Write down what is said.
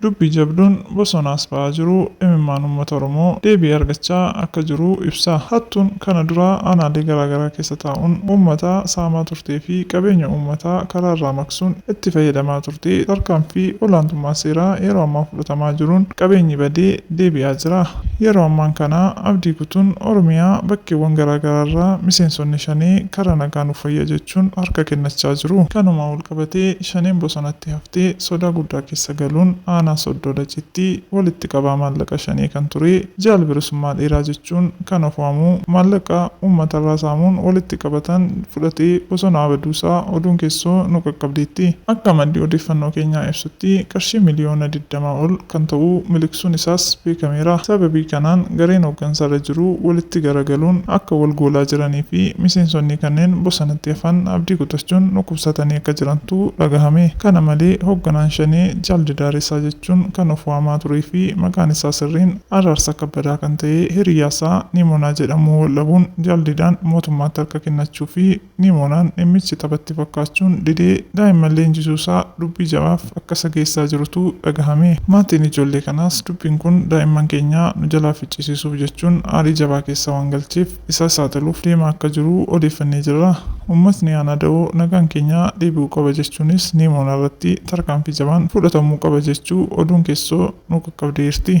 Dubbii jabduun bosonaas ba'aa jiru imimmaan uummata Oromoo deebii argachaa akka jiru ibsa. Hattuun kana dura aanaalee garaagaraa keessa taa'uun uummata saamaa turtee fi qabeenya uummataa karaarraa maqsuun itti fayyadamaa turte tarkaanfii olaantummaa seeraa yeroo ammaa fudhatamaa jiruun qabeenyi badee deebi'aa jira. Yeroo ammaan kana abdii kutuun Oromiyaa bakkeewwan garaa garaarraa miseensonni Shanee karaa nagaa nuuf wayya jechuun harka kennachaa jiru. Kanumaan walqabatee Shaneen bosonatti haftee sodaa guddaa keessa galuun aanaa Soddoo Dacitti walitti qabaa maallaqa Shanee kan ture Jaal Bilisummaa Dheeraa jechuun kan of waamu maallaqa uummatarraa saamuun walitti qabatan fudhatee bosonaa baduusaa oduun keessoo nu qaqqabdeetti. Akka maddi odeeffannoo keenyaa ibsutti qarshii miliyoona digdama ol kan ta'uu miliqsuun isaas beekameera. Sababii kanaan gareen hooggansarra jiru walitti garagaluun akka wal goolaa jiranii fi miseensonnii kanneen bosonatti hafan abdii kutachuun dhukkubsatanii akka jirantu dhagahame. Kana malee hoogganaan Shanee Jaal Didaaresaa jechuun kan of waamaa turee fi maqaan isaa sirriin Araarsaa Kabbadaa kan ta'ee hiriyyaasaa Niimonaa jedhamuu waldhabuun Jaal Didaan mootummaatti harka kennachuu fi Nimoonaan dhimmichi tapha itti fakkaachuun didee daa'imman leenjisuusaa dubbii jabaaf akka isa geessaa jirutu dhagahame. Maatiin ijoollee kanaas dubbiin kun daa'imman keenya nu jalaa ficcisiisuuf jechuun aarii jabaa keessa waan galcheef isaa saaxiluuf deemaa akka jiru odeeffannee jirra. Uummatni Aanaa Dawoo nagaan keenya deebi'uu qaba jechuunis Nimoonaarratti tarkaanfii jabaan fudhatamuu qaba jechuu oduun keessoo nu qaqqabde eerti.